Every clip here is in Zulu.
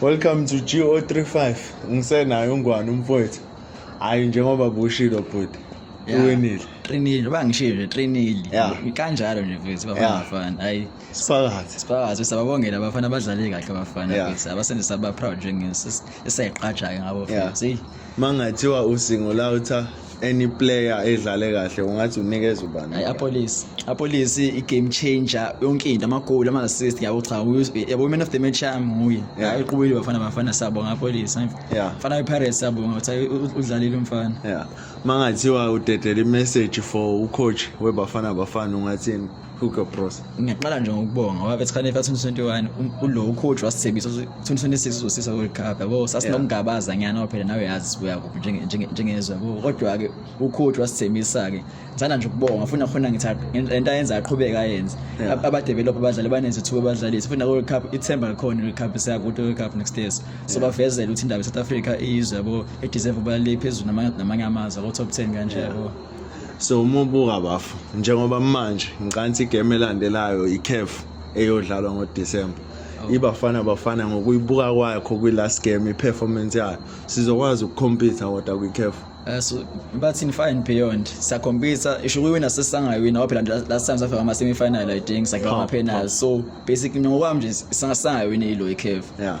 Welcome to GO35. Ngisenayo ungwane umfowethu. Hayi njengoba bushilo bhuti. Uwinile. Qinile, bangishilo qinile. Kanjalo nje mfethu bafana. Hayi. Siphakathi. Siphakathi sababongela abafana abadlale kahle abafana. Abasenzisa aba proud njengeseqaja ngabo mfethu. mangathiwa usingolawutha any player edlale kahle ungathi unikeza ubani hayi apolice apolice i-game changer yonke into amagoli ama-assist yabo cha yabo i-man of the match yami nguye hayi uqubile bafana bafana siyabonga apolice fana i-pirates siyabonga ukuthi udlalile umfana ya mangathiwa udedela i-message for ucoach webafana bafana ungathini Hook up bros. Ngiyaqala nje ngokubonga ngoba bethi khane 2021 um, ulo coach wasithembisa 2026 uzosisa World Cup yabo sasinokungabaza ngiyana ngoba phela nawe yazi sibuya kuphi njenge njengezwe yabo kodwa ke u coach wasithembisa ke ngithanda nje ukubonga funa khona ngithi lento ayenza aqhubeka ayenze aba develop abadlali banezithuba abadlali sifuna World Cup ithemba likhona World Cup siya ku World Cup next year so bavezela ukuthi indaba South Africa iyizwe yabo e deserve ubaliphi phezulu namanye amazwe ko top 10 kanje yabo so uma ubuka bafo njengoba manje ngicansi igame elandelayo icaf eyodlalwa ngodisemba oh. ibafana bafana ngokuyibuka kwakho kwi-last game i-performance yayo sizokwazi ukukhompitha kodwa kwi-caf eh, so bathi in far and beyond sakhompitha isho kuyiwina sesangayina waphela last time safika ama-semifinal i think sakhiwa ama-penal so basically ngokwami nje sangasangayini ilo i-caf yeah.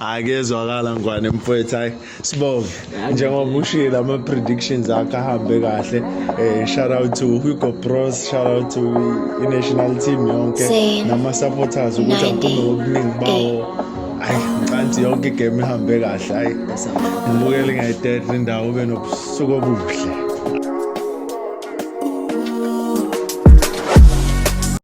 akezwakala ngwane mfowethu hayi sibonge njengoba ushile ama-predictions akhe ahambe kahle um shout out to hugo pros shout out to i-national team yonke nama-supporters ukuthi aphume ngobuningi bawo hayi ngicanthi yonke igame ihambe kahle hayi ngibukele ngayitehle indawo ube nobusuku obuhle